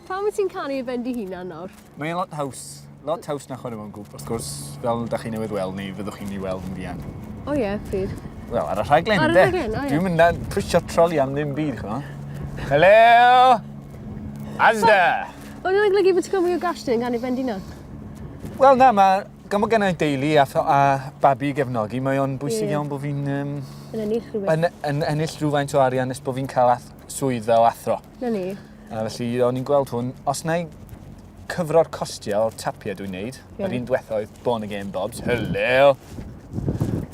Pam wyt ti'n canu i ben dy hunan nawr? Mae e'n lot haws. Lot haws na chwarae mewn grŵp, wrth gwrs, fel da chi newydd weld, neu fyddwch chi'n ei weld yn fuan. O ie, yeah, pryd? Wel, ar y rhaglen, Ar y rhaglen, o ie. Dwi'n mynd na pwysio troli am ddim byd, chwa. Hello! Asda! O'n i'n aglygu bod ti'n cael mwy o gash dyn gan i bendina? Wel na, mae gan bod gennau deulu a, a babi gefnogi, mae o'n bwysig yeah. iawn bod fi'n... Um, yn ennill rhywbeth. Yn, yn ennill rhywfaint o arian nes bod fi'n cael ath, swydd fel athro. Na ni. A felly o'n i'n gweld hwn, os na i cyfro'r costiau o'r tapiau dwi'n neud, yeah. yr un diwetha oedd Born Again Bobs, hello!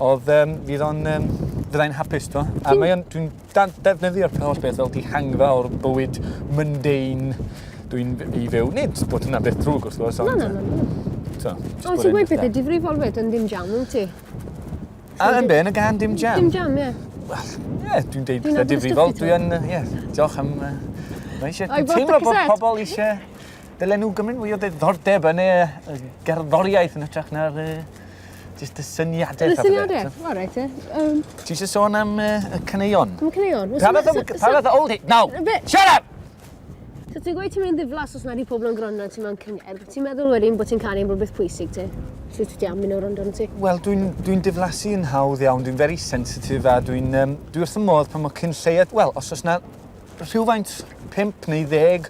Oedd, um, fydd o'n, um, fyddai'n hapus to. A mae o'n, dwi'n defnyddio'r holl beth fel dihangfa o'r bywyd mundane dwi'n i fyw. Nid bod hwnna beth drwg wrth gwrs, ond... Na, na, na. Ond ti'n gweud pethau difrifol fyd yn ddim jawn, wyt ti? A yn be? Yn y gan dim jam? Dim jam, ie. Wel, ie, dwi'n deud pethau difrifol. Dwi yn, ie, diolch am... Mae eisiau... Dwi'n teimlo bod pobl eisiau dylen nhw gymryd mwy o ddiddordeb yn y gerddoriaeth yn ytrach na'r jyst y syniadau. Y syniadau, o reit e. Ti eisiau sôn am y caneuon? Am y caneuon? Pa fath o old hit? No! Shut up! So ti'n gweud ti'n mynd ddiflas os nad i pobl yn gwrando ti mewn cyngerdd. Ti'n meddwl wedyn bod ti'n cael ein bod beth pwysig ti? Ti'n ti am mynd o'r rondo ti? Wel, dwi'n dwi diflasu yn hawdd iawn, dwi'n very sensitif a dwi'n um, dwi wrth y modd pan mae cyn lleiad, wel, os oes na rhywfaint 5 neu 10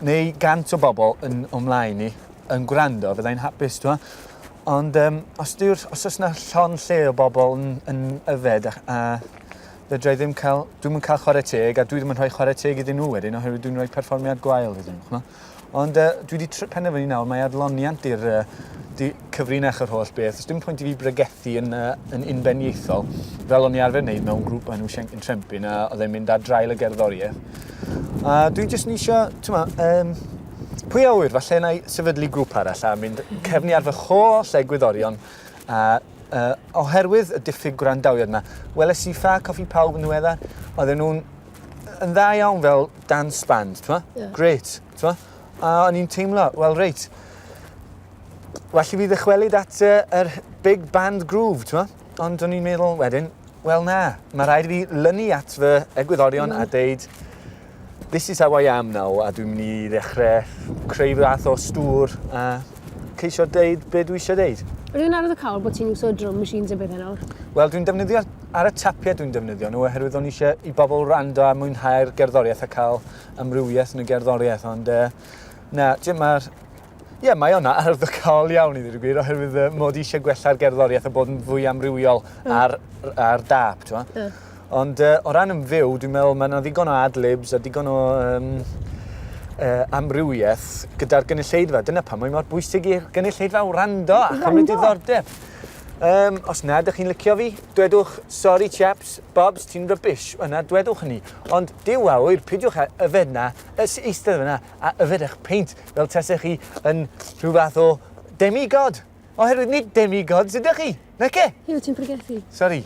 neu 100 o bobl yn ymlaen ni yn gwrando, fyddai'n hapus, dwi'n Ond um, os, os oes na llon lle o bobl yn, yn yfed a, a Fedra i ddim cael... Dwi'm yn cael chwarae teg a dwi ddim yn rhoi chwarae teg iddyn nhw wedyn oherwydd dwi'n rhoi perfformiad gwael iddyn nhw, ch'mo'? Ond uh, dwi wedi tr- penderfynu nawr mae adloniant i'r uh, di- cyfrinach yr holl beth. Os dim pwynt i fi bregethu yn, uh, yn unbeniaethol, fel o'n i arfer wneud mewn grŵp yn Wsienc yn Trempin a oedd e'n mynd ar draul y gerddoriaeth. A dwi jyst yn eisiau, ti'n ma, um, pwy a wyr, falle na i sefydlu grŵp arall a mynd cefni ar fy holl egwyddorion a Uh, oherwydd y diffyg gwrandawiad yma. Weles i Ffa Coffi Pawb yn ddiweddar, oedden nhw'n yn dda iawn fel dance band, ti'n yeah. Great, ti'n A o'n i'n teimlo, wel reit, well i fi ddychwelyd at yr uh, er big band groove, ti'n Ond o'n i'n meddwl wedyn, wel na, mae rhaid i fi lynu at fy egwyddorion mm. a deud, This is how I am now a dwi'n mynd i ddechrau creu fath o stŵr a ceisio deud be dwi eisiau deud. Ydw i'n arwydd o cawl bod ti'n iwso drum machines a bethau nawr? Wel, dwi'n defnyddio ar y tapiau dwi'n defnyddio nhw oherwydd o'n eisiau i bobl rando a mwynhau'r gerddoriaeth a cael amrywiaeth yn y gerddoriaeth ond uh, na, mae'r Ie, mae o'n arwyddocaol iawn i ddweud y gwir, oherwydd uh, mod i eisiau gwella'r gerddoriaeth a bod yn fwy amrywiol mm. ar, ar dap, ti'n mm. Ond uh, o ran yn fyw, dwi'n meddwl mae yna ddigon o adlibs a digon o um, uh, amrywiaeth gyda'r gynulleidfa. Dyna pam mae mor bwysig i'r gynulleidfa wrando a chymryd diddordeb. Um, os na, ydych chi'n licio fi, dwedwch, sorry chaps, Bobs, ti'n rybys. Yna, dwedwch hynny. Ond diw awyr, pidiwch yfed na, eistedd yna, a yfed eich peint fel tasech chi yn rhyw fath o demigod. Oherwydd nid demigods ydych chi, nace? Ie, ti'n pregethu. Sori.